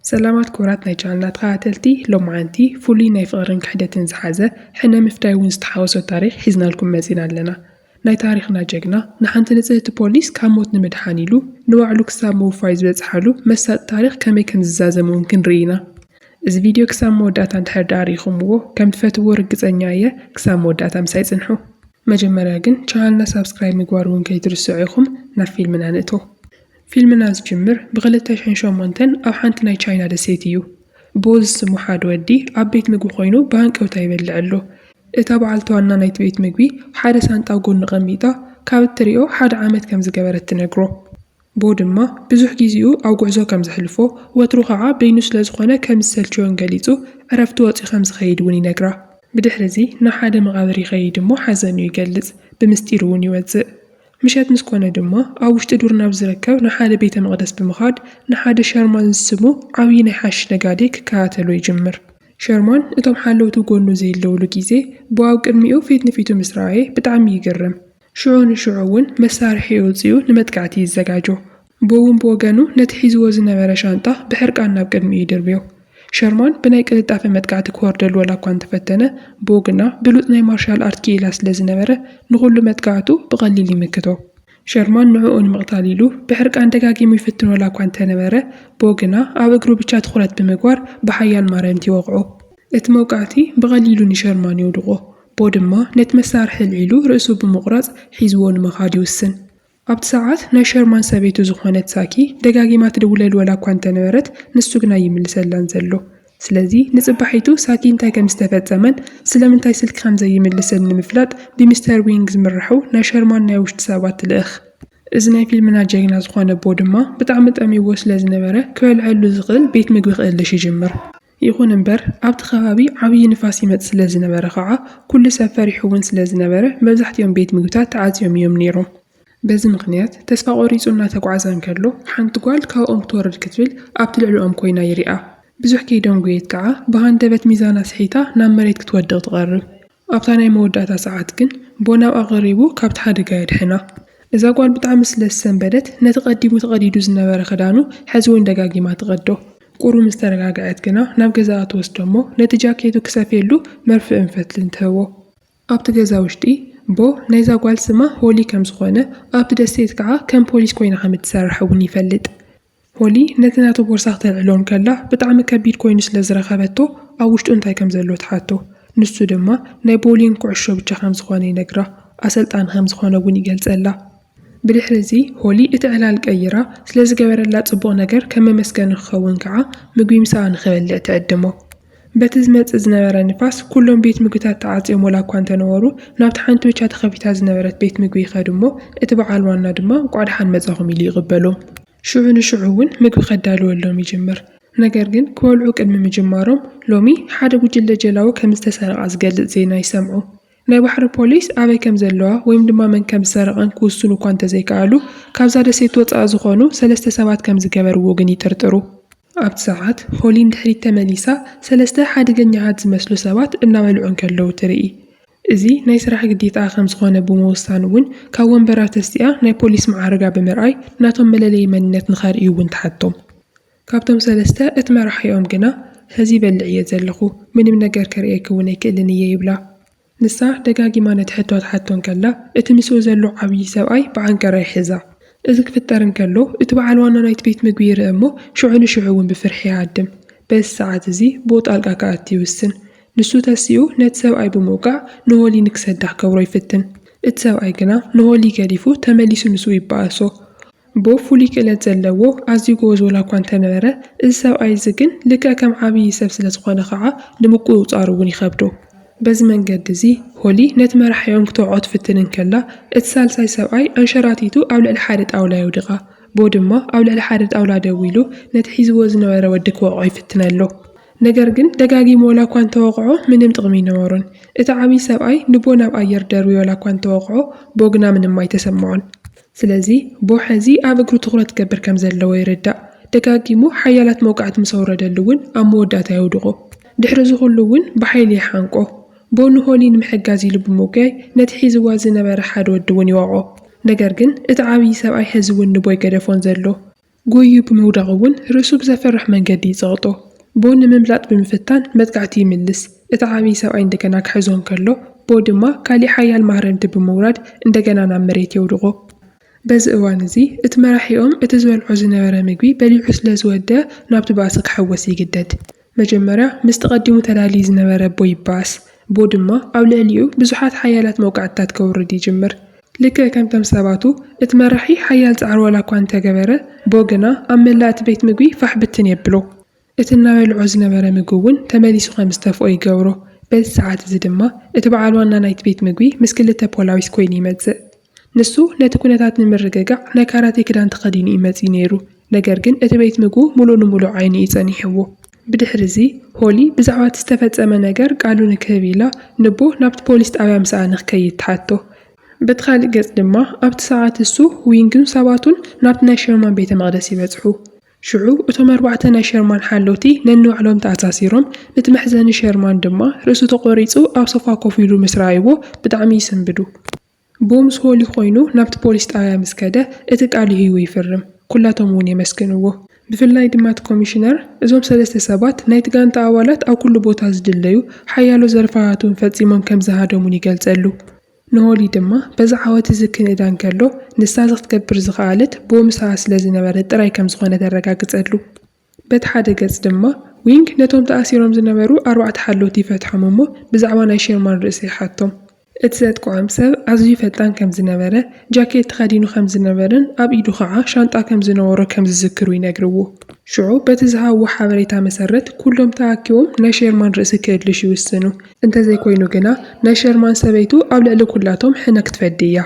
ሰላማት ክቡራት ናይ ቻነልና ተኸታተልቲ ሎምዓንቲ ፍሉይ ናይ ፍቕርን ክሕደትን ዝሓዘ ሕነ ምፍዳይ ውን ዝተሓወሶ ታሪኽ ሒዝናልኩም መፂና ኣለና ናይ ታሪኽና ጀግና ንሓንቲ ንፅህቲ ፖሊስ ካብ ሞት ንምድሓን ኢሉ ንባዕሉ ክሳብ ምውፋይ ዝበፅሓሉ መሳጢ ታሪኽ ከመይ ከምዝዛዘም ውን ክንርኢ ኢና እዚ ቪድዮ ክሳብ መወዳእታ እንድሕር ድኣ ርኢኹምዎ ከምትፈትውዎ ርግፀኛ እየ ክሳብ መወዳእታ ምሳይ ፅንሑ። መጀመርያ ግን ቻነልና ሳብስክራይብ ምግባር ውን ከይትርስዑ ኢኹም ናብ ፊልምና ንእቶ። ፊልምና ዝጅምር ብክልተ ሽሕን ሸሞንተን ኣብ ሓንቲ ናይ ቻይና ደሴት እዩ። ቦ ዝስሙ ሓደ ወዲ ኣብ ቤት ምግቢ ኮይኑ ብሃንቀውታ ይበልዕ ኣሎ። እታ በዓልቲ ዋና ናይቲ ቤት ምግቢ ሓደ ሳንጣ ኣብ ጎኑ ኣቐሚጣ ካብ እትሪኦ ሓደ ዓመት ከም ዝገበረት ትነግሮ። ቦ ድማ ብዙሕ ጊዚኡ ኣብ ጉዕዞ ከም ዘሕልፎ ወትሩ ኸዓ በይኑ ስለ ዝኾነ ከም ዝሰልቸዮን ገሊጹ ዕረፍቲ ወጺኡ ከም ዝኸይድ እውን ይነግራ። ብድሕሪ እዚ ናብ ሓደ መቓብር ይኸይድ እሞ ሓዘኑ ይገልጽ ብምስጢር እውን ይወጽእ። ምሸት ምስ ኰነ ድማ፣ ኣብ ውሽጢ ዱር ናብ ዚርከብ ንሓደ ቤተ መቕደስ ብምኻድ፣ ንሓደ ሸርማን ዝስሙ ዓብዪ ናይ ሓሽሽ ነጋዴ ኪከታተሎ ይጅምር። ሸርማን እቶም ሓለውቱ ጐድኑ ዜለዉሉ ጊዜ እቦ ኣብ ቅድሚኡ ፊት ንፊቱ ምስ ረኣየ ብጣዕሚ ይግረም። ሽዑ ንሽዑ እውን መሳርሒ ኣውጺኡ ንመጥቃዕቲ ይዘጋጆ። ቦውን ብወገኑ ነቲ ሒዝዎ ዝነበረ ሻንጣ ብሕርቃን ናብ ቅድሚኡ ይድርብዮ። ሸርማን ብናይ ቅልጣፈ መጥቃዕቲ ክወርደሉ ዋላኳ እንተፈተነ፣ ቦው ግና ብሉጽ ናይ ማርሻል ኣርት ክኢላ ስለ ዝነበረ ንኹሉ መጥቃዕቱ ብቐሊል ይምክቶ። ሸርማን ንዕኡ ንምቕታል ኢሉ ብሕርቃን ደጋጊሙ ይፍትን ዋላኳ እንተነበረ፣ ቦው ግና ኣብ እግሩ ብቻ ትኹረት ብምግባር ብሓያል ማረምቲ ይወቕዖ። እቲ መውቃዕቲ ብቐሊሉ ንሸርማን የውድቖ። ቦው ድማ ነቲ መሳርሒ ኣልዒሉ ርእሱ ብምቑራጽ ሒዝዎ ንምኻድ ይውስን። ኣብቲ ሰዓት ናይ ሸርማን ሰበይቱ ዝኾነት ዛኪ ደጋጊማ ትድውለሉ ወላኳ እንተነበረት ንሱ ግና ኣይምልሰላን ዘሎ። ስለዚ ንጽባሒቱ ሳኪ እንታይ ከም ዝተፈጸመን ስለምንታይ ስልኪ ከም ዘይምልስን ንምፍላጥ ብሚስተር ዊንግ ዝምራሑ ናይ ሸርማን ናይ ውሽጢ ሰባት ትልእኽ። እዚ ናይ ፊልምና ጀግና ዝኾነ ቦ ድማ ብጣዕሚ ጠምዩዎ ስለዝነበረ ክበልዐሉ ዝኽእል ቤት ምግቢ ክእልሽ ይጅምር። ይኹን እምበር ኣብቲ ከባቢ ዓብዪ ንፋስ ይመፅእ ስለዝነበረ ከዓ ኩሉ ሰብ ፈሪሑ እውን ስለዝነበረ መብዛሕቲኦም ቤት ምግብታት ተዓፅዮም እዮም ነይሮም። በዚ ምኽንያት ተስፋ ቆሪፁ እናተጓዕዘ እንከሎ ሓንቲ ጓል ካብኦም ክትወርድ ክትብል ኣብቲ ልዕልኦም ኮይና ይሪኣ። ብዙሕ ከይደንጎየት ከዓ ብሃንደበት ሚዛና ስሒታ ናብ መሬት ክትወድቕ ትቐርብ። ኣብታ ናይ መወዳእታ ሰዓት ግን ቦናብ ኣቐሪቡ ካብቲ ሓደጋ የድሕና። እዛ ጓል ብጣዕሚ ስለ ዝሰንበደት ነቲ ቀዲሙ ተቐዲዱ ዝነበረ ክዳኑ ሕዚ ውን ደጋጊማ ትቐዶ። ቁሩብ ምስ ተረጋግዐት ግና ናብ ገዛኣ ትወስዶ'ሞ ነቲ ጃኬቱ ክሰፍየሉ መርፍእን ፈትልን ትህቦ። ኣብቲ ገዛ ውሽጢ ቦ ናይዛ ጓል ስማ ሆሊ ከም ዝኾነ ኣብቲ ደሴት ከዓ ከም ፖሊስ ኮይና ከም እትሰርሕ እውን ይፈልጥ። ሆሊ ነቲ ናቱ ቦርሳ ክተልዕሎ እንከላ ብጣዕሚ ከቢድ ኮይኑ ስለ ዝረኸበቶ ኣብ ውሽጡ እንታይ ከም ዘሎ ትሓቶ። ንሱ ድማ ናይ ቦውሊንግ ኩዕሾ ብቻ ከም ዝኾነ ይነግራ። ኣሰልጣኒ ከም ዝኾነ እውን ይገልጸላ። ብድሕሪ እዚ ሆሊ እቲ ዕላል ቀይራ ስለ ዝገበረላ ጽቡቕ ነገር ከም መመስገኒ ክኸውን ከኣ ምግቢ ምሳኣ ንክበልዕ ትዕድሞ። በቲ ዝመጽእ ዝነበረ ንፋስ፣ ኩሎም ቤት ምግብታት ተዓጽዮም ወላ እኳ እንተ ነበሩ፣ ናብቲ ሓንቲ ብቻ ተኸፊታ ዝነበረት ቤት ምግቢ ይኸዱ እሞ፣ እቲ ብዓል ዋና ድማ እንቋዕ ደሓን መጻኹም ኢሉ ይቕበሎም። ሽዑ ንሽዑ እውን ምግቢ ከዳልወሎም ይጅምር። ነገር ግን ክበልዑ ቅድሚ ምጅማሮም፣ ሎሚ ሓደ ጉጅለ ጀላቡ ከም ዝተሰረቓ ዝገልጽ ዜና ይሰምዑ። ናይ ባሕሪ ፖሊስ ኣበይ ከም ዘለዋ ወይም ድማ መን ከም ዝሰረቐን ክውስኑ እኳ እንተ ዘይከኣሉ፣ ካብዛ ደሴት ወጻኢ ዝኾኑ ሰለስተ ሰባት ከም ዝገበርዎ ግን ይጥርጥሩ። ኣብቲ ሰዓት ሆሊ ንድሕሪት ተመሊሳ ሰለስተ ሓደገኛታት ዝመስሉ ሰባት እናበልዑ እንከለዉ ትርኢ። እዚ ናይ ስራሕ ግዴታኣ ከም ዝኾነ ብምውሳን እውን ካብ ወንበራ ተሲኣ ናይ ፖሊስ መዓርጋ ብምርኣይ ናቶም መለለዪ መንነት ንኸርእዩ እውን ትሓቶም። ካብቶም ሰለስተ እቲ መራሒኦም ግና ሕዚ ይበልዕ እየ ዘለኹ፣ ምንም ነገር ከርእየኪ እውን ኣይክእልን እየ ይብላ። ንሳ ደጋጊማ ነቲ ሕቶ ትሓቶ እንከላ፣ እቲ ምስኡ ዘሎ ዓብዪ ሰብኣይ ብዓንቀራ ይሕዛ። እዚ ክፍጠር እንከሎ፣ እቲ በዓል ዋና ናይቲ ቤት ምግቢ ይርእ እሞ ሽዑ ንሽዑ እውን ብፍርሒ ይሃድም። በዚ ሰዓት እዚ ብኡ ጣልቃ ክኣቲ ይውስን። ንሱ ተሲኡ ነቲ ሰብኣይ ብምውቃዕ ንሆሊ ንክሰዳ ክገብሮ ይፍትን። እቲ ሰብኣይ ግና ንሆሊ ገዲፉ ተመሊሱ ምስኡ ይበኣሶ። ቦብ ፍሉይ ክእለት ዘለዎ ኣዝዩ ጎበዝ ወላኳ እንተነበረ እዚ ሰብኣይ እዚ ግን ልክዕ ከም ዓብዪ ሰብ ስለዝኾነ ከዓ ንምቁፅፃሩ እውን ይኸብዶ። በዚ መንገዲ እዚ ሆሊ ነቲ መራሒኦም ክትወዕዖ ትፍትን እንከላ እቲ ሳልሳይ ሰብኣይ ኣንሸራቲቱ ኣብ ልዕሊ ሓደ ጣውላ የውድቓ። ቦ ድማ ኣብ ልዕሊ ሓደ ጣውላ ደው ኢሉ ነቲ ሒዝዎ ዝነበረ ወዲ ክወቕዖ ይፍትን ኣሎ። ነገር ግን ደጋጊሙ ወላኳ እንተወቕዖ ምንም ጥቕሚ ኣይነበሮን። እቲ ዓብዪ ሰብኣይ ንቦ ናብ ኣየር ደርብዩ ወላኳ እንተወቕዖ ቦ ግና ምንም ኣይተሰምዖን። ስለዚ ቦ ሐዚ ኣብ እግሩ ትኹረት ክገብር ከምዘለዎ ይርዳእ። ደጋጊሙ ሓያላት መውቃዕቲ ምስ ኣውረደሉ እውን ኣብ መወዳእታ የውድቖ። ድሕሪ እዚ ኹሉ እውን ብሓይሊ ይሓንቆ። ቦ ንሆሊ ንምሕጋዝ ኢሉ ብምጉያይ ነቲ ሒዝዋ ዝነበረ ሓደ ወዲ እውን ይወቕዖ። ነገር ግን እቲ ዓብዪ ሰብኣይ ሐዚ እውን ንቦ ኣይገደፎን ዘሎ። ጎይዩ ብምውዳቑ እውን ርእሱ ብዘፍርሕ መንገዲ ይጸቕጦ። ቦ ንምምላጥ ብምፍታን መጥቃዕቲ ይምልስ፣ እቲ ዓብዪ ሰብኣይ እንደገና ክሕዞ እንከሎ፣ ቦ ድማ ካሊእ ሓያል ማህረምቲ ብምውራድ እንደገና ናብ መሬት የውድቖ። በዚ እዋን እዚ እቲ መራሒኦም እቲ ዝበልዖ ዝነበረ ምግቢ በሊዑ ስለዝወደኣ ናብቲ ባእሲ ክሕወስ ይግደድ። መጀመርያ ምስቲ ቀዲሙ ተዳልዩ ዝነበረ ቦ ይበኣስ። ቦ ድማ ኣብ ልዕሊኡ ብዙሓት ሓያላት መውቃዕትታት ከውርድ ይጅምር። ልክዕ ከምቶም ሰባቱ፣ እቲ መራሒ ሓያል ጻዕሪ ዋላኳ እንተገበረ፣ ቦ ግና ኣብ መላእ እቲ ቤት ምግቢ ፋሕ ብትን የብሎ። እቲ እናበልዖ ዝነበረ ምግቢ እውን ተመሊሱ ከም ዝተፍኦ ይገብሮ። በዚ ሰዓት እዚ ድማ እቲ በዓል ዋና ናይቲ ቤት ምግቢ ምስ ክልተ ፖላዊስ ኮይኑ ይመጽእ። ንሱ ነቲ ኵነታት ንምርግጋዕ ናይ ካራቴ ክዳን ተኸዲኑ እዩ መጺኡ ነይሩ፣ ነገር ግን እቲ ቤት ምግቡ ምሉእ ንምሉእ ዓይኑ እዩ ጸኒሕዎ። ብድሕርዚ፣ ሆሊ ብዛዕባ እቲ ዝተፈጸመ ነገር ቃሉ ንክህብ ኢላ ንቦ ናብቲ ፖሊስ ጣብያ ምሳኣ ንክከይድ ትሓቶ። በቲ ካልእ ገጽ ድማ፣ ኣብቲ ሰዓት እሱ፣ ዊንግን ሰባቱን ናብቲ ናይ ሸርማን ቤተ መቕደስ ይበጽሑ። ሽዑ እቶም ኣርባዕተ ናይ ሸርማን ሓለውቲ ነንባዕሎም ተኣሳሲሮም፣ እቲ መሕዘኒ ሸርማን ድማ ርእሱ ተቖሪጹ ኣብ ሶፋ ኮፍ ኢሉ ምስ ረኣይዎ ብጣዕሚ ይስንብዱ። ብኡ ምስ ሆሊ ኮይኑ ናብቲ ፖሊስ ጣብያ ምስ ከደ እቲ ቃል ይህይቡ ይፍርም። ኩላቶም እውን የመስግንዎ። ብፍላይ ድማ እቲ ኮሚሽነር እዞም ሰለስተ ሰባት ናይቲ ጋንታ ኣባላት ኣብ ኩሉ ቦታ ዝድለዩ ሓያሎ ዘርፋታት እውን ፈፂሞም ከም ዝሃደሙን ይገልፀሉ። ንሆሊ ድማ በዚ ዓወት እዚ ክንእዳ እንከሎ ንሳ እዚ ክትገብር ዝኸኣለት ብኡ ምሳኣ ስለ ዝነበረ ጥራይ ከም ዝኾነ ተረጋግፀሉ። በቲ ሓደ ገጽ ድማ፣ ዊንግ ነቶም ተኣሲሮም ዝነበሩ ኣርባዕተ ሓለውቲ ይፈትሖም እሞ ብዛዕባ ናይ ሼርማን ርእሲ ይሓቶም። እቲ ዘጥቅዖም ሰብ ኣዝዩ ፈጣን ከም ዝነበረ፣ ጃኬት ተኸዲኑ ከም ዝነበረን ኣብ ኢዱ ኸኣ ሻንጣ ከም ዝነበሮ ከም ዝዝክሩ ይነግርዎ። ሽዑ በቲ ዝሃብዎ ሓበሬታ መሰረት ኩሎም ተኣኪቦም ናይ ሼርማን ርእሲ ክእልሹ ይውስኑ። እንተዘይኮይኑ ግና ናይ ሼርማን ሰበይቱ ኣብ ልዕሊ ኩላቶም ሕነ ክትፈዲ እያ።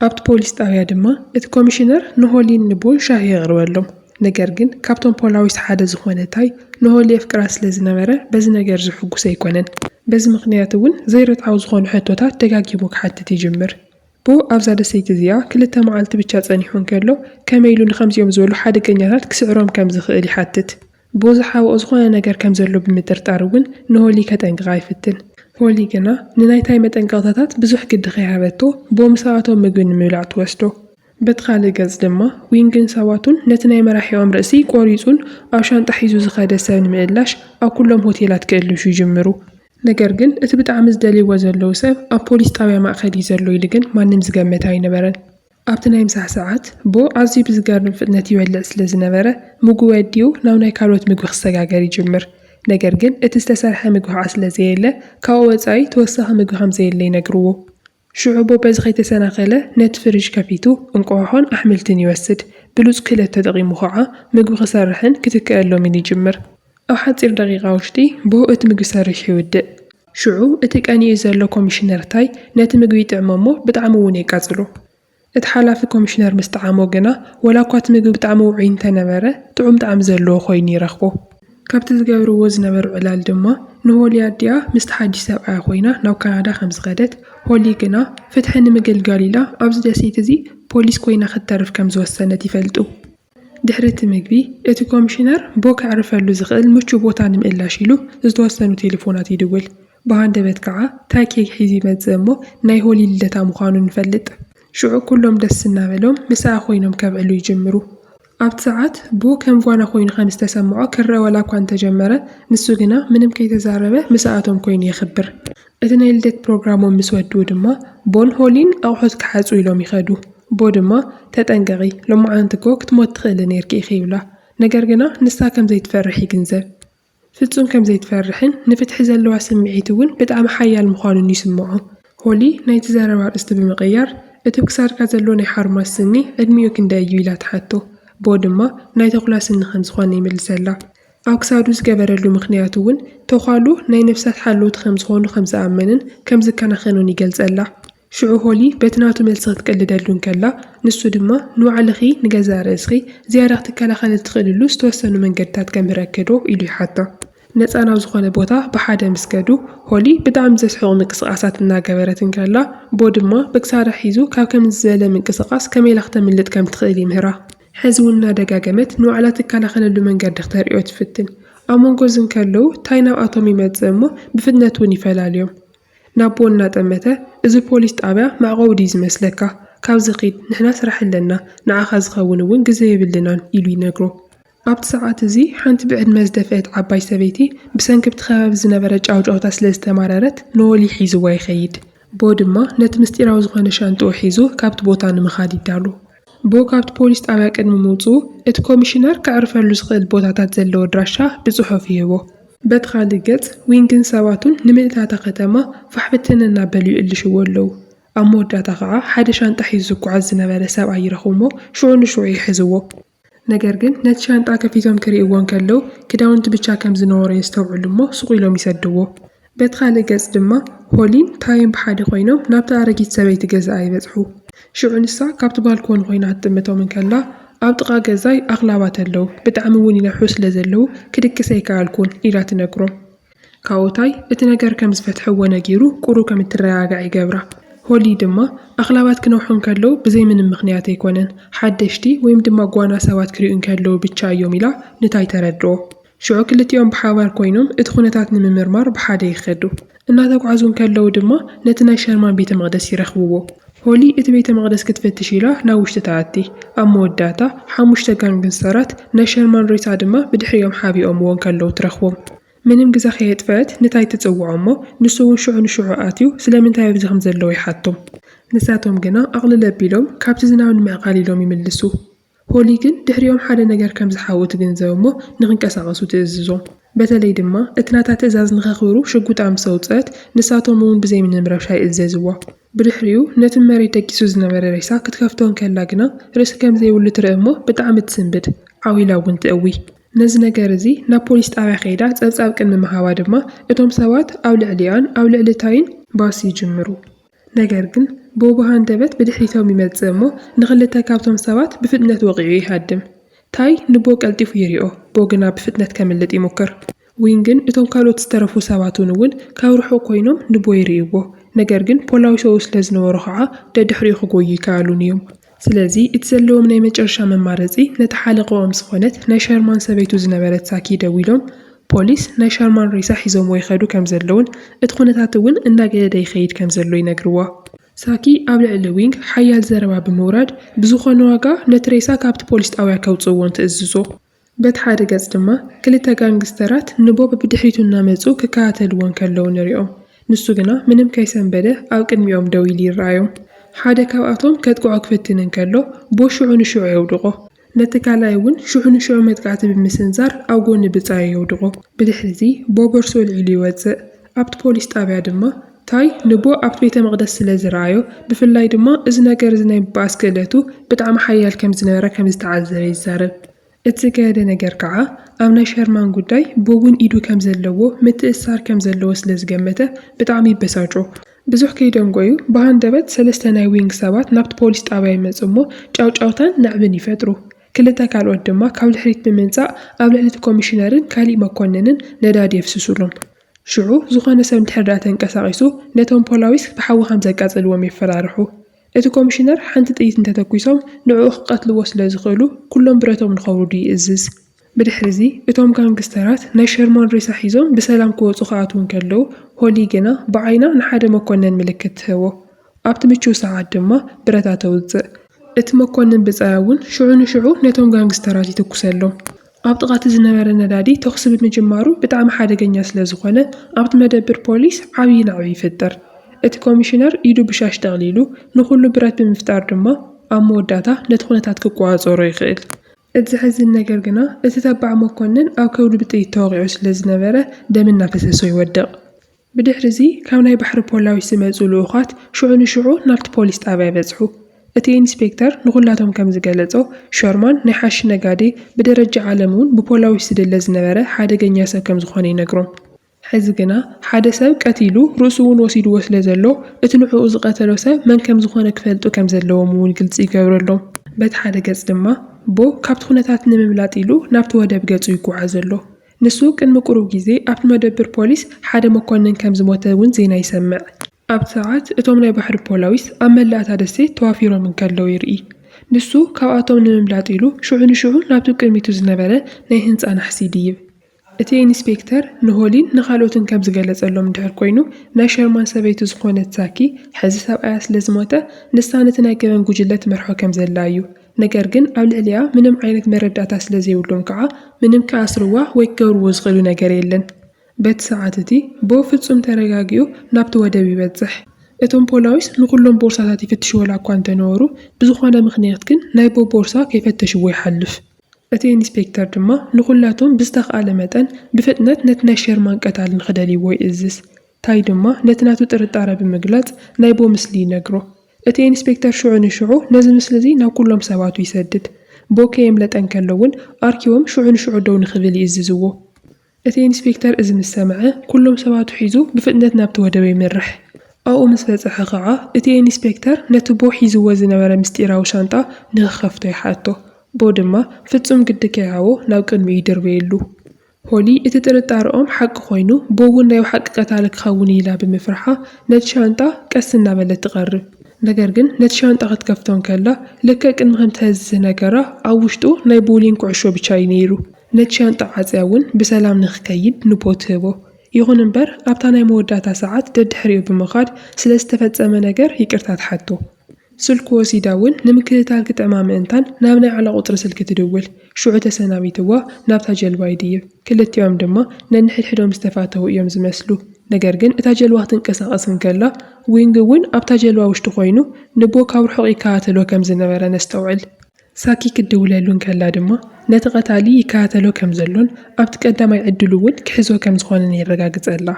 ኣብቲ ፖሊስ ጣብያ ድማ እቲ ኮሚሽነር ንሆሊን ንቡን ሻሂ የቕርበሎም። ነገር ግን ካብቶም ፖላዊስ ሓደ ዝኾነ ታይ ንሆሊ የፍቅራ ስለ ዝነበረ በዚ ነገር እዚ ሕጉስ ኣይኮነን። በዚ ምኽንያት እውን ዘይርትዓዊ ዝኾኑ ሕቶታት ደጋጊሙ ክሓትት ይጅምር። ብኡ ኣብዛ ደሴት እዚኣ ክልተ መዓልቲ ብቻ ፀኒሑ እንከሎ ከመይ ኢሉ ንኸምዚኦም ዝበሉ ሓደገኛታት ክስዕሮም ከም ዝኽእል ይሓትት። ብዝሓብኦ ዝኾነ ነገር ከም ዘሎ ብምጥርጣር እውን ንሆሊ ከጠንቅቓ ይፍትን። ሆሊ ግና ንናይ ታይ መጠንቀቕታታት ብዙሕ ግዲ ከይሃበቶ ቦምሰኣቶም ምግቢ ንምብላዕ ትወስዶ። በቲ ካልእ ገፅ ድማ ዊንግን ሰባቱን ነቲ ናይ መራሒኦም ርእሲ ቆሪፁን ኣብ ሻንጣ ሒዙ ዝኸደ ሰብ ንምእላሽ ኣብ ኩሎም ሆቴላት ክእልሹ ይጅምሩ። ነገር ግን እቲ ብጣዕሚ ዝደልይዎ ዘለዉ ሰብ ኣብ ፖሊስ ጣብያ ማእኸል እዩ ዘሎ ኢሉ ግን ማንም ዝገመተ ኣይነበረን። ኣብቲ ናይ ምሳሕ ሰዓት ቦ ኣዝዩ ብዝገርም ፍጥነት ይበልዕ ስለ ዝነበረ፣ ምጉ ወዲኡ ናብ ናይ ካልኦት ምግቢ ክሰጋገር ይጅምር። ነገር ግን እቲ ዝተሰርሐ ምግቢ ከኣ ስለ ዘየለ፣ ካብኡ ወጻኢ ተወሳኺ ምግቢ ከም ዘየለ ይነግርዎ። ሽዑ ቦ በዚ ከይተሰናኸለ ነቲ ፍሪጅ ከፊቱ እንቋቑሖን ኣሕምልትን ይወስድ። ብሉጽ ክእለት ተጠቒሙ ከኣ ምግቢ ክሰርሕን ክትከኣሎምን ይጅምር። ኣብ ሓጺር ደቒቓ ውሽጢ ብኡ እቲ ምግቢ ሰሪሑ ይውድእ። ሽዑ እቲ ቀኒኡ ዘሎ ኮሚሽነር ታይ ነቲ ምግቢ ይጥዕሞ እሞ ብጣዕሚ እውን የቃጽሎ። እቲ ሓላፊ ኮሚሽነር ምስ ጠዓሞ ግና ወላ እኳ እቲ ምግቢ ብጣዕሚ ውዑይ እንተነበረ ጥዑም ጣዕሚ ዘለዎ ኮይኑ ይረኽቦ። ካብቲ ዝገብርዎ ዝነበሩ ዕላል ድማ ንሆሊ ኣዲኣ ምስቲ ሓድሽ ሰብኣያ ኮይና ናብ ካናዳ ከም ዝኸደት፣ ሆሊ ግና ፍትሒ ንምግልጋል ኢላ ኣብዚ ደሴት እዚ ፖሊስ ኮይና ክትተርፍ ከም ዝወሰነት ይፈልጡ። ድሕሪ እቲ መግቢ፣ እቲ ኮሚሽነር ቦ ከዕርፈሉ ዝኽእል ምቹእ ቦታ ንምእላሽ ኢሉ ዝተወሰኑ ቴሌፎናት ይድውል። ብሃንደበት ከኣ ታይ ኬክ ሒዙ ይመጽእ እሞ ናይ ሆሊ ልደታ ምዃኑ ንፈልጥ። ሽዑ ኩሎም ደስ እናበሎም ምሳኣ ኮይኖም ከብዕሉ ይጅምሩ። ኣብቲ ሰዓት ቦ ከም ጓና ኮይኑ ከም ዝተሰምዖ ክረኣ ዋላ'ኳ እንተጀመረ፣ ንሱ ግና ምንም ከይተዛረበ ምሳኣቶም ኮይኑ የኽብር። እቲ ናይ ልደት ፕሮግራሞም ምስ ወድኡ ድማ ቦን ሆሊን ኣቑሑት ክሓጹ ኢሎም ይኸዱ። ቦ ድማ ተጠንቀቒ፣ ሎማዓንቲ እኮ ክትሞቲ ትኽእሊ ኔርኪ ኢኺ ይብላ። ነገር ግና ንሳ ከም ዘይትፈርሕ ይግንዘብ። ፍጹም ከም ዘይትፈርሕን ንፍትሒ ዘለዋ ስምዒት እውን ብጣዕሚ ሓያል ምዃኑን ይስምዖ። ሆሊ ናይቲ ዘረባ ኣርእስቲ ብምቕያር፣ እቲ ኣብ ክሳድካ ዘሎ ናይ ሓርማዝ ስኒ ዕድሚኡ ክንደይ እዩ? ኢላ ትሓቶ። ቦ ድማ ናይ ተኹላ ስኒ ከም ዝኾነ ይምልሰላ። ኣብ ክሳዱ ዝገበረሉ ምኽንያት እውን ተዃሉ ናይ ነፍሳት ሓለውቲ ከም ዝኾኑ ከም ዝኣመንን ከም ዝከናኸኖን ይገልጸላ። ሽዑ ሆሊ በቲ ናቱ መልሲ ክትቅልደሉ እንከላ፣ ንሱ ድማ ንባዕልኺ ንገዛእ ርእስኺ ዝያዳ ክትከላኸሊ እትኽእልሉ ዝተወሰኑ መንገድታት ከምህረኪዶ? ኢሉ ይሓታ። ነጻ ናብ ዝኾነ ቦታ ብሓደ ምስ ከዱ፣ ሆሊ ብጣዕሚ ዘስሕቑ ምንቅስቓሳት እናገበረት እንከላ፣ ቦ ድማ ብክሳዳ ሒዙ ካብ ከምዚ ዝበለ ምንቅስቓስ ከመይ ኢላ ክተምልጥ ከም እትኽእል ይምህራ። ሕዚ እውን እናደጋገመት ንባዕላ እትከላኸለሉ መንገዲ ክተርእዮ ትፍትን። ኣብ መንጎ እዚ እንከለዉ ታይ ናብኣቶም ይመፅእ እሞ ብፍጥነት እውን ይፈላልዮም። ናብኡ እናጠመተ እዚ ፖሊስ ጣብያ መዕቆቢ ድዩ ዝመስለካ? ካብዚ ኺድ ንሕና ስራሕ ኣለና ንዓኻ ዝኸውን እውን ግዘ የብልናን ኢሉ ይነግሮ። ኣብቲ ሰዓት እዚ ሓንቲ ብዕድመ ዝደፍእት ዓባይ ሰበይቲ ብሰንኪ ብቲ ከባቢ ዝነበረ ጫውጫውታ ስለ ዝተማረረት ኖወሊ ሒዝዋ ይኸይድ። ቦ ድማ ነቲ ምስጢራዊ ዝኾነ ሻንጥኡ ሒዙ ካብቲ ቦታ ንምኻድ ይዳሎ። ብ ካብቲ ፖሊስ ጣብያ ቅድሚ ምውጽኡ፣ እቲ ኮሚሽነር ከዕርፈሉ ዝኽእል ቦታታት ዘለዎ ኣድራሻ ብጽሑፍ ይህቦ። በቲ ካልእ ገጽ፣ ዊንግን ሰባቱን ንምልእቲ እታ ከተማ ፋሕብትን እናበሉ ይእልሽዎ ኣለዉ። ኣብ መወዳእታ ከኣ ሓደ ሻንጣ ሒዙ ዝጉዓዝ ዝነበረ ሰብኣይ ይረኽቡ'ሞ ሽዑ ንሽዑ ይሕዝዎ። ነገር ግን ነቲ ሻንጣ ከፊቶም ክርእይዎ እንከለዉ ክዳውንቲ ብቻ ከም ዝነበሮ የስተውዕሉ እሞ ሱቕ ኢሎም ይሰድዎ። በቲ ካልእ ገጽ ድማ ሆሊን ታየን ብሓደ ኮይኖም ናብታ ኣረጊት ሰበይቲ ገዛኣ ይበጽሑ። ሽዑ ንሳ ካብቲ ባልኮኒ ኮይና ክትጥምቶም እንከላ ኣብ ጥቓ ገዛይ ኣኽላባት ኣለዉ፣ ብጣዕሚ እውን ይነሕሑ ስለ ዘለዉ ክድቅስ ኣይከኣልኩን ኢላ ትነግሮም። ካዎታይ እቲ ነገር ከም ዝፈትሐዎ ነጊሩ ቁሩ ከም እትረጋጋዕ ይገብራ። ሆሊ ድማ ኣኽላባት ክነውሑ እንከለዉ ብዘይ ምንም ምኽንያት ኣይኮነን፣ ሓደሽቲ ወይም ድማ ጓና ሰባት ክሪኡ እንከለዉ ብቻ እዮም ኢላ ንታይ ተረድኦ። ሽዑ ክልቲኦም ብሓባር ኮይኖም እቲ ኩነታት ንምምርማር ብሓደ ይኸዱ። እናተጓዕዙ እንከለዉ ድማ ነቲ ናይ ሸርማን ቤተ መቕደስ ይረኽብዎ። ሆሊ እቲ ቤተ መቕደስ ክትፍትሽ ኢላ ናብ ውሽጢ ትኣቲ። ኣብ መወዳእታ፣ ሓሙሽተ ጋንግስተራት ናይ ሸርማን ሬሳ ድማ ብድሕሪኦም ሓቢኦምዎ እንከለዉ ትረኽቦም። ምንም ግዘ ከየጥፈኣት ንታይ ትጽውዖ እሞ ንሱ እውን ሽዑ ንሽዑ ኣትዩ ስለምንታይ ኣብዚ ከምዘለዉ ይሓቶም። ንሳቶም ግና ኣቕልል ኣቢሎም ካብቲ ዝናብ ንምዕቃል ኢሎም ይምልሱ። ሆሊ ግን ድሕሪኦም ሓደ ነገር ከም ዝሓዊ ትግንዘብ እሞ ንኽንቀሳቐሱ ትእዝዞም። በተለይ ድማ እቲ ናታ ትእዛዝ ንኸኽብሩ ሽጉጣ ምስ ኣውጽእት፣ ንሳቶም እውን ብዘይ ምንም ረብሻ ይእዘዝዋ። ብድሕሪኡ ነቲ ንመሬት ደቂሱ ዝነበረ ሬሳ ክትከፍቶ እንከላ ግና ርእሲ ከም ዘይብሉ ትርኢ እሞ ብጣዕሚ ትስንብድ፣ ዓው ኢላ እውን ትእዊ። ነዚ ነገር እዚ ናብ ፖሊስ ጣብያ ከይዳ ጸብጻብ ቅድሚ ምሃባ ድማ እቶም ሰባት ኣብ ልዕሊኣን ኣብ ልዕሊ ታይን ባስ ይጅምሩ። ነገር ግን ቦቦ ሃንደበት ብድሕሪቶም ይመጽእ እሞ ንክልተ ካብቶም ሰባት ብፍጥነት ወቒዑ ይሃድም። ታይ ንቦ ቀልጢፉ ይሪኦ፣ ቦ ግና ብፍጥነት ከምልጥ ይሙክር። ዊን ግን እቶም ካልኦት ዝተረፉ ሰባት'ውን እውን ካብ ርሑቕ ኮይኖም ንቦ ይሪእዎ፣ ነገር ግን ፖላዊሶኡ ስለዝነበሩ ኸዓ ደድሕሪኡ ክጎዩ ኣይከኣሉን እዮም። ስለዚ እቲ ዘለዎም ናይ መጨረሻ መማረፂ ነታ ሓለቐኦም ዝኾነት ናይ ሸርማን ሰበይቱ ዝነበረት ሳኪ ደዊሎም ፖሊስ ናይ ሸርማን ሬሳ ሒዞምዎ ይኸዱ ከምዘለዉን እቲ ኩነታት እውን እናገደደ ይኸይድ ከምዘሎ ይነግርዋ። ሳኪ ኣብ ልዕሊ ዊንግ ሓያል ዘረባ ብምውራድ ብዝኾነ ዋጋ ነቲ ሬሳ ካብቲ ፖሊስ ጣውያ ከውፅእዎን ትእዝዞ። በቲ ሓደ ገፅ ድማ ክልተ ጋንግስተራት ንቦብ ብድሕሪቱ እናመፁ ክከታተልዎ እንከለዉ ንሪኦም። ንሱ ግና ምንም ከይሰንበደ ኣብ ቅድሚኦም ደው ኢሉ ይረኣዮም። ሓደ ካብኣቶም ከጥቅዖ ክፍትን እንከሎ ቦ ሽዑ ንሽዑ የውድቖ። ነቲ ካልኣይ እውን ሽዑ ንሽዑ መጥቃዕቲ ብምስንዛር ኣብ ጎኒ ብፃዩ የውድቖ። ብድሕሪ እዚ ቦ ቦርስኡ ኣልዒሉ ይወፅእ። ኣብቲ ፖሊስ ጣብያ ድማ ታይ ንቡእ ኣብቲ ቤተ መቕደስ ስለ ዝረኣዮ፣ ብፍላይ ድማ እዚ ነገር እዚ ናይ ምብኣስ ክእለቱ ብጣዕሚ ሓያል ከም ዝነበረ ከም ዝተዓዘበ ይዛረብ። እቲ ዝገደደ ነገር ከዓ ኣብ ናይ ሸርማን ጉዳይ ቦብ'ውን ኢዱ ከም ዘለዎ፣ ምትእስሳር ከም ዘለዎ ስለ ዝገመተ ብጣዕሚ ይበሳጮ። ብዙሕ ከይደንጎዩ ብሃንደበት ሰለስተ ናይ ዊንግ ሰባት ናብቲ ፖሊስ ጣብያ ይመፁ እሞ ጫውጫውታን ናዕብን ይፈጥሩ። ክልተ ካልኦት ድማ ካብ ድሕሪት ብምምጻእ ኣብ ልዕሊ እቲ ኮሚሽነርን ካሊእ መኮንንን ነዳዲ የፍስሱሎም። ሽዑ ዝኾነ ሰብ እንድሕር ድኣ ተንቀሳቒሱ ነቶም ፖላዊስ ብሓዊ ከም ዘቃጽልዎም የፈራርሑ። እቲ ኮሚሽነር ሓንቲ ጥይት እንተተኲሶም ንዕኡ ክቀትልዎ ስለ ዝኽእሉ ኩሎም ብረቶም ንኸውርዱ ይእዝዝ። ብድሕሪ'ዚ እቶም ጋንግስተራት ናይ ሸርማን ሬሳ ሒዞም ብሰላም ክወጹ ክኣትዉ እንከለዉ ሆሊ ግና ብዓይና ንሓደ መኮነን ምልክት ትህቦ። ኣብቲ ምቹው ሰዓት ድማ ብረታ ተውጽእ። እቲ መኮንን ብጻይ እውን ሽዑ ንሽዑ ነቶም ጋንግስተራት ይትኩሰሎም። ኣብ ጥቓ እቲ ዝነበረ ነዳዲ ተኹሲ ብምጅማሩ ብጣዕሚ ሓደገኛ ስለ ዝኾነ ኣብቲ መደብር ፖሊስ ዓብዪ ናዕቢ ይፍጠር። እቲ ኮሚሽነር ኢዱ ብሻሽ ጠቕሊሉ ንኹሉ ብረት ብምፍጣር ድማ ኣብ መወዳእታ ነቲ ኩነታት ክቆጻጸሮ ይኽእል። እቲ ዘሕዝን ነገር ግና እቲ ተባዕ መኮንን ኣብ ከብዱ ብጥይት ተወቒዑ ስለ ዝነበረ ደም እናፈሰሶ ይወድቕ። ብድሕሪዚ ካብ ናይ ባሕሪ ፖላዊስ ዝመጹ ልኡኻት ሽዑ ንሽዑ ናብቲ ፖሊስ ጣብያ በጽሑ። እቲ ኢንስፔክተር ንኹላቶም ከም ዝገለጾ፣ ሸርማን ናይ ሓሺሽ ነጋዴ፣ ብደረጃ ዓለም እውን ብፖላዊስ ዝድለ ዝነበረ ሓደገኛ ሰብ ከም ዝኾነ ይነግሮም። ሕዚ ግና ሓደ ሰብ ቀቲሉ ርእሱ እውን ወሲድዎ ስለ ዘሎ፣ እቲ ንዕኡ ዝቐተሎ ሰብ መን ከም ዝኾነ ክፈልጡ ከም ዘለዎም እውን ግልጺ ይገብረሎም። በቲ ሓደ ገጽ ድማ፣ ቦ ካብቲ ኩነታት ንምምላጥ ኢሉ ናብቲ ወደብ ገጹ ይጓዓዝ ኣሎ። ንሱ ቅድሚ ቁሩብ ግዜ ኣብቲ መደብር ፖሊስ ሓደ መኮነን ከም ዝሞተ እውን ዜና ይሰምዕ። ኣብቲ ሰዓት እቶም ናይ ባሕሪ ፖላዊስ ኣብ መላእ እታ ደሴት ተዋፊሮም እንከለዉ ይርኢ። ንሱ ካብኣቶም ንምምላጥ ኢሉ ሽዑ ንሽዑ ናብቲ ቅድሚቱ ዝነበረ ናይ ህንጻ ናሕሲ ይድይብ። እቲ ኢንስፔክተር ንሆሊን ንኻልኦትን ከም ዝገለጸሎም እንድሕር ኮይኑ፣ ናይ ሸርማን ሰበይቲ ዝኾነት ሳኪ፣ ሕዚ ሰብኣያ ስለ ዝሞተ ንሳ ነቲ ናይ ገበን ጉጅለ ትመርሖ ከም ዘላ እዩ። ነገር ግን ኣብ ልዕሊኣ ምንም ዓይነት መረዳእታ ስለ ዘይብሎም ከኣ ምንም ክኣስርዋ ወይ ክገብርዎ ዝኽእሉ ነገር የለን። በቲ ሰዓት እቲ ቦ ፍጹም ተረጋጊኡ ናብቲ ወደብ ይበጽሕ። እቶም ፖላዊስ ንኹሎም ቦርሳታት ይፍትሽዎላ እኳ እንተ ነበሩ፣ ብዝኾነ ምኽንያት ግን ናይ ቦ ቦርሳ ከይፈተሽዎ ይሓልፍ። እቲ ኢንስፔክተር ድማ ንኹላቶም ብዝተኻእለ መጠን ብፍጥነት ነቲ ናይ ሸርማን ቀታሊ ንኽደልይዎ ይእዝዝ። ታይ ድማ ነቲ ናቱ ጥርጣረ ብምግላጽ ናይቦ ምስሊ ይነግሮ። እቲ ኢንስፔክተር ሽዑ ንሽዑ ነዚ ምስሊ እዚ ናብ ኩሎም ሰባቱ ይሰድድ። ቦ ከየምለጠ እንከሎ እውን ኣርኪቦም ሽዑ ንሽዑ ደው ንክብል ይእዝዝዎ። እቲ ኢንስፔክተር እዚ ምስ ሰምዐ ኩሎም ሰባቱ ሒዙ ብፍጥነት ናብቲ ወደበ ይምርሕ። ኣብኡ ምስ በጽሐ ከኣ እቲ ኢንስፔክተር ነቲ ቦ ሒዝዎ ዝነበረ ምስጢራዊ ሻንጣ ንክከፍቶ ይሓቶ። ቦ ድማ ፍጹም ግዲ ከይሃቦ ናብ ቅድሚኡ ይድርበየሉ። ሆሊ እቲ ጥርጣረኦም ሓቂ ኮይኑ ቦውን ናይ ብሓቂ ቀታሊ ክኸውን ኢላ ብምፍርሓ ነቲ ሻንጣ ቀስ እናበለት ትቐርብ። ነገር ግን ነቲ ሻንጣ ክትከፍቶ እንከላ ልክዕ ቅድሚ ከምቲ ሀዚ ዝነገራ ኣብ ውሽጡ ናይ ቦውሊንግ ኩዕሾ ብቻ እዩ ነይሩ። ነቲ ሻንጣ ዓጽያ እውን ብሰላም ንክከይድ ንቦ ትህቦ። ይኹን እምበር ኣብታ ናይ መወዳእታ ሰዓት ደድሕሪኡ ብምኻድ ስለዝተፈጸመ ነገር ይቅርታ ትሓቶ። ስልኩ ወሲዳ እውን ንምክትታል ክጥዕማ ምእንታን ናብ ናይ ዓላ ቁጽሪ ስልኪ ትድውል። ሽዑ ተሰናቢትዋ ናብታ ጀልባ ይድይብ። ክልቲኦም ድማ ነንሕድሕዶም ዝተፋተዉ እዮም ዝመስሉ። ነገር ግን እታ ጀልባ ክትንቀሳቐስ እንከላ ዊንግ እውን ኣብታ ጀልባ ውሽጢ ኮይኑ ንቦ ካብ ርሑቕ ይከታተሎ ከም ዝነበረ ነስተውዕል። ሳኪ ክትድውለሉ እንከላ ድማ ነቲ ቀታሊ ይከታተሎ ከም ዘሎን ኣብቲ ቀዳማይ ዕድሉ እውን ክሕዞ ከም ዝኾነን የረጋግጸላ።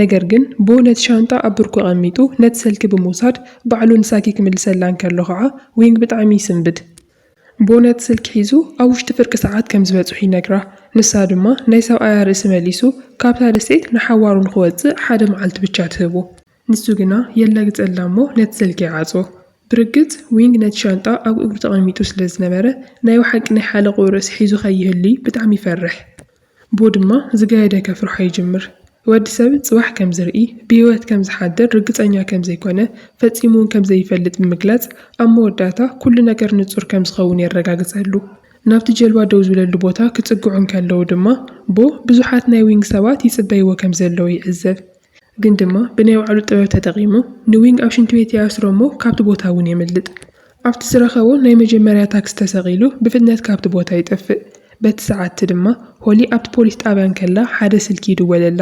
ነገር ግን ቦ ነቲ ሻንጣ ኣብ ብርኩ ኣቐሚጡ ነቲ ሰልኪ ብምውሳድ ባዕሉ ንሳኪ ክምልሰላ እንከሎ ከኣ ዊንግ ብጣዕሚ ይስንብድ። ቦ ነቲ ስልኪ ሒዙ ኣብ ውሽጢ ፍርቂ ሰዓት ከም ዝበጽሑ ይነግራ። ንሳ ድማ ናይ ሰብኣያ ርእሲ መሊሱ ካብታ ደሴት ንሓዋሩ ንኽወጽእ ሓደ መዓልቲ ብቻ ትህቦ። ንሱ ግና የላግጸላ እሞ ነቲ ሰልኪ ይዓጽዎ። ብርግጽ ዊንግ ነቲ ሻንጣ ኣብ እግሩ ተቐሚጡ ስለ ዝነበረ ናይ ብሓቂ ናይ ሓለቕኡ ርእሲ ሒዙ ከይህሉይ ብጣዕሚ ይፈርሕ። ብኡ ድማ ዝገደደ ከፍርሖ ይጅምር። ወዲ ሰብ ጽባሕ ከም ዝርኢ፣ ብህይወት ከም ዝሓድር ርግጸኛ ከም ዘይኰነ፣ ፈጺሙውን ከም ዘይፈልጥ ብምግላጽ፣ ኣብ መወዳእታ ኵሉ ነገር ንጹር ከም ዝኸውን የረጋግጸሉ። ናብቲ ጀልባ ደው ዝብለሉ ቦታ ክጽግዑ እንከለዉ ድማ፣ ቦ ብዙሓት ናይ ዊንግ ሰባት ይጽበይዎ ከም ዘለዉ ይዕዘብ። ግን ድማ ብናይ ባዕሉ ጥበብ ተጠቒሙ ንዊንግ ኣብ ሽንቲ ቤት ይኣስሮ እሞ ካብቲ ቦታ እውን የምልጥ። ኣብቲ ዝረኸቦ ናይ መጀመርያ ታክሲ ተሰቒሉ ብፍጥነት ካብቲ ቦታ ይጠፍእ። በቲ ሰዓት'ቲ ድማ ሆሊ ኣብቲ ፖሊስ ጣብያ እንከላ ሓደ ስልኪ ይድወለላ።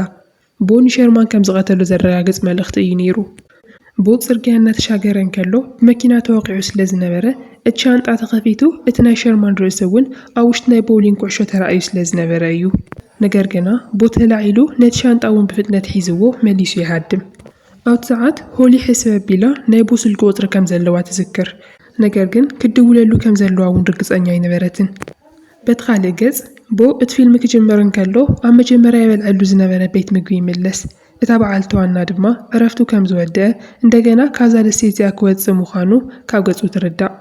ቦኒ ሸርማን ከም ዝቐተሎ ዘረጋግጽ መልእኽቲ እዩ ነይሩ። ቦብ ጽርግያ እናተሻገረ እንከሎ ብመኪና ተወቒዑ ስለ ዝነበረ እቲ ሻንጣ ተኸፊቱ እቲ ናይ ሸርማን ርእሲ እውን ኣብ ውሽጢ ናይ ቦውሊንግ ኩዕሾ ተራእዩ ስለ ዝነበረ እዩ። ነገር ግና ቦቲ ተላዒሉ ነቲ ሻንጣ እውን ብፍጥነት ሒዝዎ መሊሱ ይሃድም። ኣብቲ ሰዓት ሆሊ ሕስብ ኣቢላ ናይ ቦ ስልኪ ቁጽሪ ከም ዘለዋ ትዝክር፣ ነገር ግን ክትድውለሉ ከም ዘለዋ እውን ርግጸኛ ኣይነበረትን። በቲ ካልእ ገጽ፣ ቦ እቲ ፊልም ክጅምር እንከሎ ኣብ መጀመርያ ይበልዐሉ ዝነበረ ቤት ምግቢ ይምለስ፣ እታ በዓልቲ ዋና ድማ ዕረፍቱ ከም ዝወድኣ እንደገና ካብዛ ደሴት እዚኣ ክወጽእ ምዃኑ ካብ ገጹ ትርዳእ።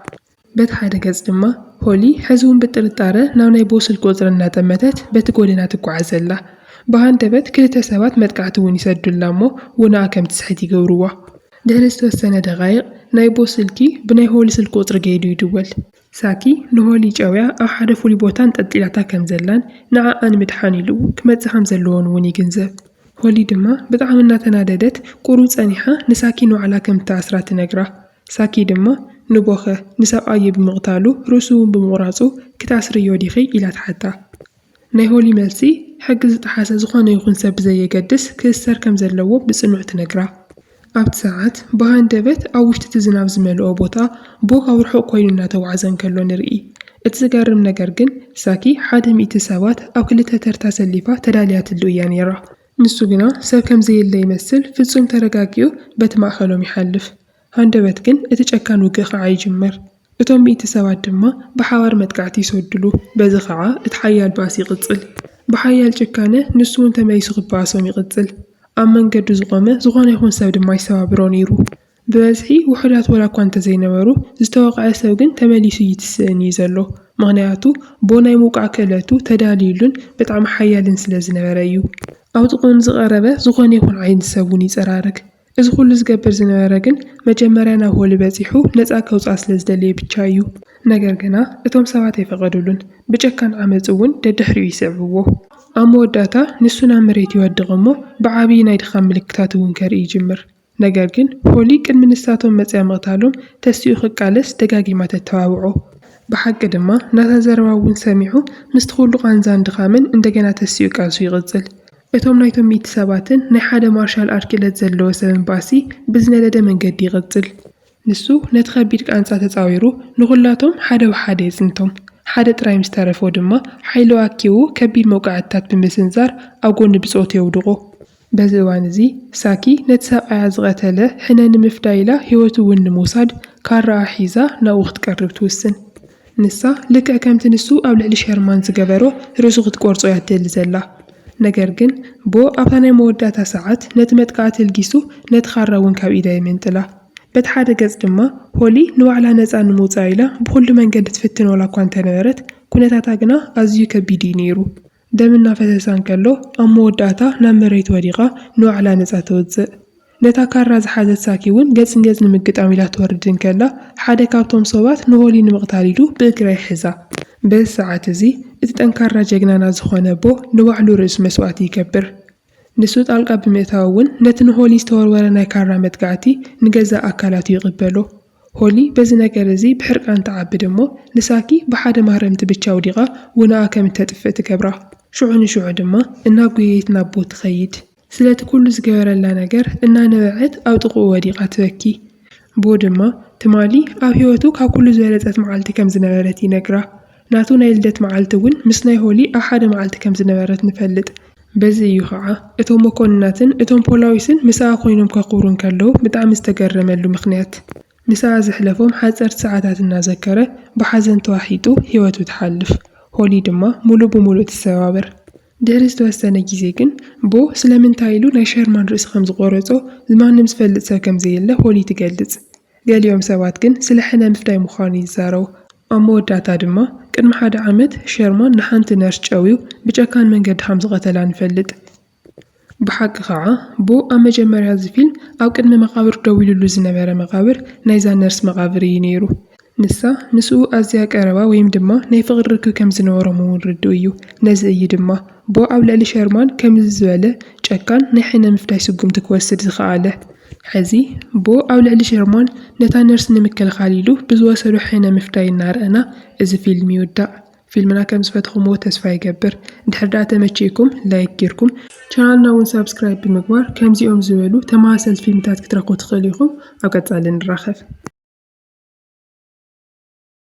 በቲ ሓደ ገፅ ድማ ሆሊ ሐዚ ውን ብጥርጣረ ናብ ናይ ቦስል ቁፅሪ እናጠመተት በቲ ጎደና ትጓዓዝ ኣላ። ብሃንደበት ክልተ ሰባት መጥቃዕቲ ውን ይሰዱላ እሞ ውናኣ ከም ትስሕት ይገብርዋ። ድሕሪ ዝተወሰነ ደቓይቕ ናይ ቦስ ስልኪ ብናይ ሆሊ ስልኪ ቁፅሪ ገይዱ ይድወል። ሳኪ ንሆሊ ጨውያ ኣብ ሓደ ፍሉይ ቦታ ኣንጠልጢላታ ከም ዘላን ንዓኣ ንምድሓን ኢሉ ክመፅእ ከም ዘለዎን ውን ይግንዘብ። ሆሊ ድማ ብጣዕሚ እናተናደደት ቁሩብ ፀኒሓ ንሳኪ ንባዕላ ከም እትኣስራ ትነግራ። ሳኪ ድማ ንቦኸ ንሰብኣዩ ብምቕታሉ ርእሱ'ውን ብምቑራጹ ክትኣስርዮ ዲኺ? ኢላ ትሓታ። ናይ ሆሊ መልሲ ሕጊ ዝጠሓሰ ዝኾነ ይኹን ሰብ ብዘየገድስ ክእሰር ከም ዘለዎ ብጽኑዕ ትነግራ። ኣብቲ ሰዓት ብሃንደበት ኣብ ውሽጢ'ቲ ዝናብ ዝመልኦ ቦታ ቦ ኣብ ርሑቕ ኮይኑ እናተጓዕዘ እንከሎ ንርኢ። እቲ ዝገርም ነገር ግን ሳኪ ሓደ ሚእቲ ሰባት ኣብ ክልተ ተርታ ሰሊፋ ተዳልያትሉ እያ ነይራ። ንሱ ግና ሰብ ከም ዘየለ ይመስል ፍጹም ተረጋጊኡ በቲ ማእከሎም ይሓልፍ። ሃንደበት ግን እቲ ጨካን ውግእ ኸኣ ይጅምር። እቶም ሚእቲ ሰባት ድማ ብሓባር መጥቃዕቲ ይሰዱሉ። በዚ ኸኣ እቲ ሓያል ባእሲ ይቕጽል። ብሓያል ጭካነ ንሱ እውን ተመሊሱ ክበኣሶም ይቕጽል። ኣብ መንገዱ ዝቖመ ዝኾነ ይኹን ሰብ ድማ ይሰባብሮ ነይሩ። ብበዝሒ ውሑዳት ወላ እኳ እንተዘይነበሩ፣ ዝተወቕዐ ሰብ ግን ተመሊሱ ይትስእን እዩ ዘሎ። ምኽንያቱ ቦ ናይ ምውቃዕ ክእለቱ ተዳልዩሉን ብጣዕሚ ሓያልን ስለ ዝነበረ እዩ። ኣብ ጥቕኡ ንዝቐረበ ዝኾነ ይኹን ዓይነት ሰብ እውን ይጸራርግ። እዚ ኩሉ ዝገብር ዝነበረ ግን መጀመርያ ናብ ሆሊ በጺሑ ነጻ ከውጽኣ ስለ ዝደለየ ብቻ እዩ። ነገር ግና እቶም ሰባት ኣይፈቐዱሉን። ብጨካን ዓመጽ እውን ደድሕሪኡ ይስዕብዎ። ኣብ መወዳእታ ንሱ ናብ መሬት ይወድቕ እሞ ብዓብዪ ናይ ድኻም ምልክታት እውን ከርኢ ይጅምር። ነገር ግን ሆሊ ቅድሚ ንሳቶም መጺኣ ምቕታሎም ተሲኡ ክቃለስ ደጋጊማ ተተባብዖ። ብሓቂ ድማ ናታ ዘረባ እውን ሰሚዑ ምስቲ ኩሉ ቃንዛን ድኻምን እንደገና ተሲኡ ቃልሱ ይቕጽል። እቶም ናይቶም ሚእቲ ሰባትን ናይ ሓደ ማርሻል ኣር ክእለት ዘለዎ ሰብን ባእሲ ብዝነደደ መንገዲ ይቕጽል። ንሱ ነቲ ከቢድ ቃንዛ ተጻዊሩ ንኹላቶም ሓደ ብሓደ የጽንቶም። ሓደ ጥራይ ምስ ተረፎ ድማ ሓይሉ ኣኪቡ ከቢድ መውቃዕትታት ብምስንዛር ኣብ ጎኒ ብጾቱ የውድቖ። በዚ እዋን እዚ ሳኪ ነቲ ሰብኣያ ዝቐተለ ሕነ ንምፍዳይ ኢላ ህይወቱ እውን ንምውሳድ ካራኣ ሒዛ ናብኡ ክትቀርብ ትውስን። ንሳ ልክዕ ከምቲ ንሱ ኣብ ልዕሊ ሸርማን ዝገበሮ ርእሱ ክትቆርጾ እያ ትደሊ ዘላ። ነገር ግን ቦ ኣብታ ናይ መወዳእታ ሰዓት ነቲ መጥቃዕቲ ልጊሱ ነቲ ካራ እውን ካብ ኢዳ የመንጥላ። በቲ ሓደ ገጽ ድማ ሆሊ ንባዕላ ነጻ ንምውጻእ ኢላ ብኹሉ መንገዲ ትፍትን ዋላ እኳ እንተነበረት ኩነታታ ግና ኣዝዩ ከቢድ እዩ ነይሩ። ደም እናፈሰሳ እንከሎ ኣብ መወዳእታ ናብ መሬት ወዲቓ ንባዕላ ነጻ ተውጽእ። ነታ ካራ ዝሓዘት ሳኪ እውን ገጽ ንገጽ ንምግጣም ኢላ ትወርድ እንከላ፣ ሓደ ካብቶም ሶባት ንሆሊ ንምቕታል ኢሉ ብእግራ ይሕዛ። በዚ ሰዓት እዚ እቲ ጠንካራ ጀግናና ዝኾነ ኣቦ ንባዕሉ ርእሱ መስዋእቲ ይገብር። ንሱ ጣልቃ ብምእታው እውን ነቲ ንሆሊ ዝተወርወረ ናይ ካራ መጥቃዕቲ ንገዛእ ኣካላቱ ይቕበሎ። ሆሊ በዚ ነገር እዚ ብሕርቃን ትዓብድ እሞ፣ ንሳኪ ብሓደ ማህረምቲ ብቻ ኣውዲቓ ውናኣ ከም እተጥፍእ ትገብራ። ሽዑ ንሽዑ ድማ እናጎየየት ናቦ ትኸይድ። ስለቲ ኩሉ ዝገበረላ ነገር እናነበዐት ኣብ ጥቕኡ ወዲቓ ትበኪ። ቦ ድማ ትማሊ ኣብ ህይወቱ ካብ ኩሉ ዝበለጸት መዓልቲ ከም ዝነበረት ይነግራ። ናቱ ናይ ልደት መዓልቲ እውን ምስ ናይ ሆሊ ኣብ ሓደ መዓልቲ ከም ዝነበረት ንፈልጥ። በዚ እዩ ኸዓ እቶም መኮንናትን እቶም ፖላዊስን ምስኣ ኮይኖም ከኽብሩ እንከለዉ ብጣዕሚ ዝተገረመሉ ምኽንያት። ምስኣ ዘሕለፎም ሓጸርቲ ሰዓታት እናዘከረ ብሓዘን ተዋሒጡ ህይወቱ ትሓልፍ። ሆሊ ድማ ሙሉእ ብሙሉእ ትሰባበር። ድሕሪ ዝተወሰነ ግዜ ግን ቦ ስለምንታይ ኢሉ ናይ ሸርማን ርእሲ ከም ዝቖረጾ ማንም ዝፈልጥ ሰብ ከም ዘየለ ሆሊ ትገልጽ። ገሊኦም ሰባት ግን ስለ ሕነ ምፍዳይ ምዃኑ ይዛረቡ። ኣብ መወዳእታ ድማ፣ ቅድሚ ሓደ ዓመት ሸርማን ንሓንቲ ነርስ ጨውዩ ብጨካን መንገዲ ከም ዝቐተላ ንፈልጥ። ብሓቂ ኸኣ፣ ብ ኣብ መጀመርያ እዚ ፊልም ኣብ ቅድሚ መቓብር ደው ኢሉሉ ዝነበረ መቓብር ናይዛ ነርስ መቓብር እዩ ነይሩ። ንሳ ምስኡ ኣዝያ ቀረባ ወይም ድማ ናይ ፍቕሪ ርክብ ከም ዝነበሮም እውን ርዱእ እዩ። ነዚ እዩ ድማ፣ ብ ኣብ ልዕሊ ሸርማን ከምዚ ዝበለ ጨካን ናይ ሕነ ምፍዳይ ስጉምቲ ክወስድ ዝኸኣለ። ሕዚ እሞ ኣብ ልዕሊ ሸርሞን ነታ ነርስ ንምክልኻል ኢሉ ብዝወሰዶ ሕነ ምፍዳይ እናረኣና እዚ ፊልም ይውዳእ። ፊልምና ከምዝፈተኹምዎ ተስፋ ይገብር። እንድሕር ድኣ ተመቺእኩም ላይክ ጌርኩም ቻናልና እውን ሳብስክራይብ ብምግባር ከምዚኦም ዝበሉ ተመሳሰልቲ ፊልምታት ክትረኽቡ ትኽእሉ ኢኹም። ኣብ ቀፃሊ ንራኸብ።